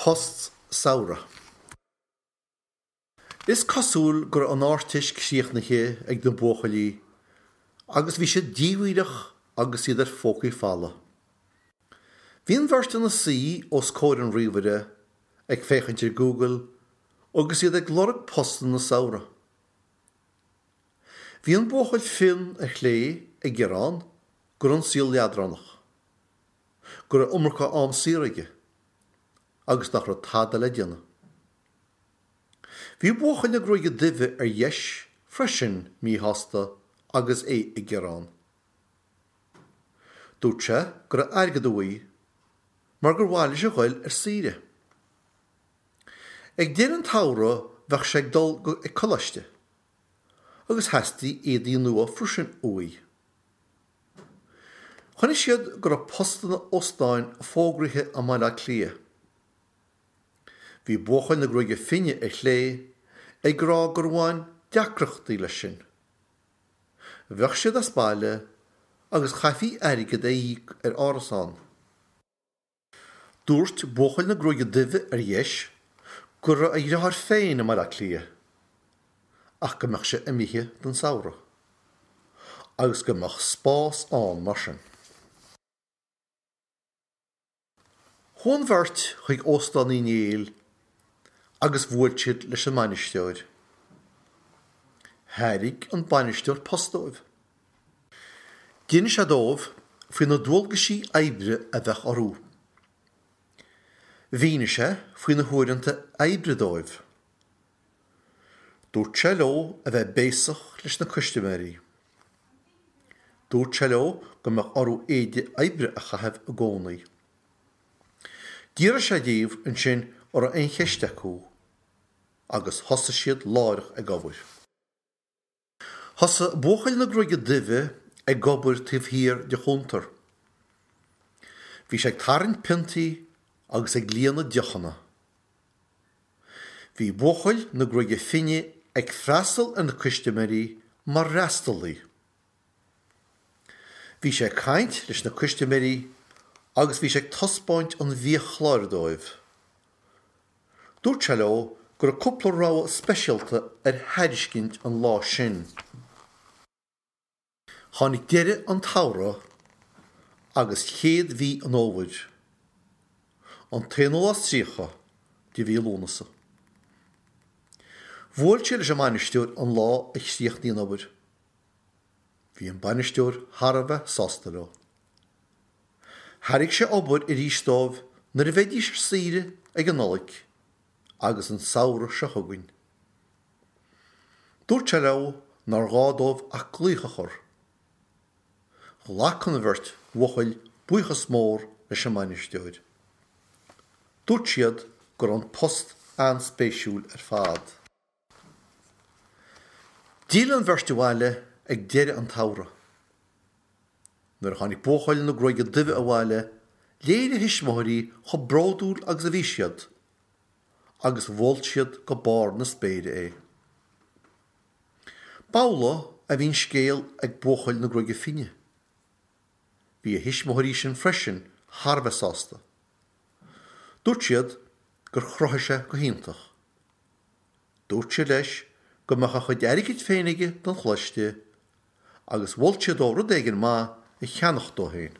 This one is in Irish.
Post Samhraidh. Is cosúil go raibh an Ardteist críochnaithe ag na buachaillí agus bhí siad díomhaoineach agus iad ar phócaí folmha. Bhí an bheirt ina suí os comhair an ríomhaire ag féachaint ar Google agus iad ag lorg postanna samhraidh. Bhí an buachaill fionn ar chlé ag gearán go raibh an saol leadránach, go raibh iomarca am saor aige agus nach raibh tada le déanamh. Bhí buachaill na gruaige duibhe ar dheis freisin míshásta agus é ag gearán. Dúirt sé go raibh airgead uaidh mar gur mhaith leis a ghoil ar saoire. Ag deireadh an tsamhraidh bheadh sé ag dul ag coláiste. agus theastaigh éadaí nua freisin uaidh. Chonaic siad go raibh postanna óstáin fógraithe i mBaile Átha Cliath. Bhí buachaill na gruaige finne ar chlé ag rá gur bhain deacrachtaí leis sin. Bheadh siad as baile agus chaithfí airgead a íoc ar árasán. Dúirt buachaill na gruaige duibhe, ar dheis, go raibh a dheartháir féin i mBaile Átha Cliath ach go mbeadh sé imithe don samhradh agus go mbeadh spás ann mar sin. Chuaigh an bheirt chuig Óstán Uí Néill agus bhuail siad leis an mbainisteoir. Thairg an bainisteoir post dóibh. D'inis sé dóibh faoi na dualgaisí oibre a bheadh orthu. Mhínigh sé faoi na huaireanta oibre dóibh. Dúirt sé leo a bheith béasach leis na custaiméirí. Dúirt sé leo go mbeadh orthu éide oibre a chaitheamh i gcónaí. D'fhiafraigh sé díobh ansin an raibh aon cheist acu agus thosaigh siad láithreach ag obair. Thosaigh buachaill na gruaige duibhe ag obair taobh thiar de chuntar. Bhí sé ag tarraingt piontaí agus ag líonadh deochanna. Bhí buachaill na gruaige finne ag freastal ar na custaiméirí mar fhreastalaí. Bhí sé ag caint leis na custaiméirí agus bhí sé ag taispeáint an bhiachláir dóibh. Dúirt sé leo go raibh cúpla rogha speisialta ar thairiscint an lá sin. Tháinig deireadh an tsamhraidh agus chéad mhí an fhómhair. An t-aonú lá is tríocha de mhí Lúnasa. Bhuail sé leis an mbainisteoir an lá a chríochnaigh an obair. Bhí an bainisteoir thar a bheith sásta leo. Thairg sé obair arís dóibh nuair a bheidís ar saoire ag an Nollaig agus an samhradh seo chugainn. Dúirt sé leo nár ghá dóibh ach glaoch a chur. Ghlac an bheirt bhuachaill buíochas mór leis an mbainisteoir. Dúirt siad go raibh an post an-spéisiúil ar fad. D'fhill an bheirt abhaile ag deireadh an tsamhraidh. Nuair a tháinig buachaill na gruaige duibhe abhaile, léirigh a thuismitheoirí chomh bródúil agus a bhí siad, agus mholt siad go barr na spéire é. B'amhlaidh a bhí an scéal ag buachaill na gruaige finne. Bhí a thuismitheoirí sin freisin thar a bheith sásta. Dúirt siad gur chruthaigh sé go hiontach. Dúirt siad leis go mbeadh a chuid airgid féin aige don choláiste agus mholt siad dó rud éigin maith a cheannacht dó féin.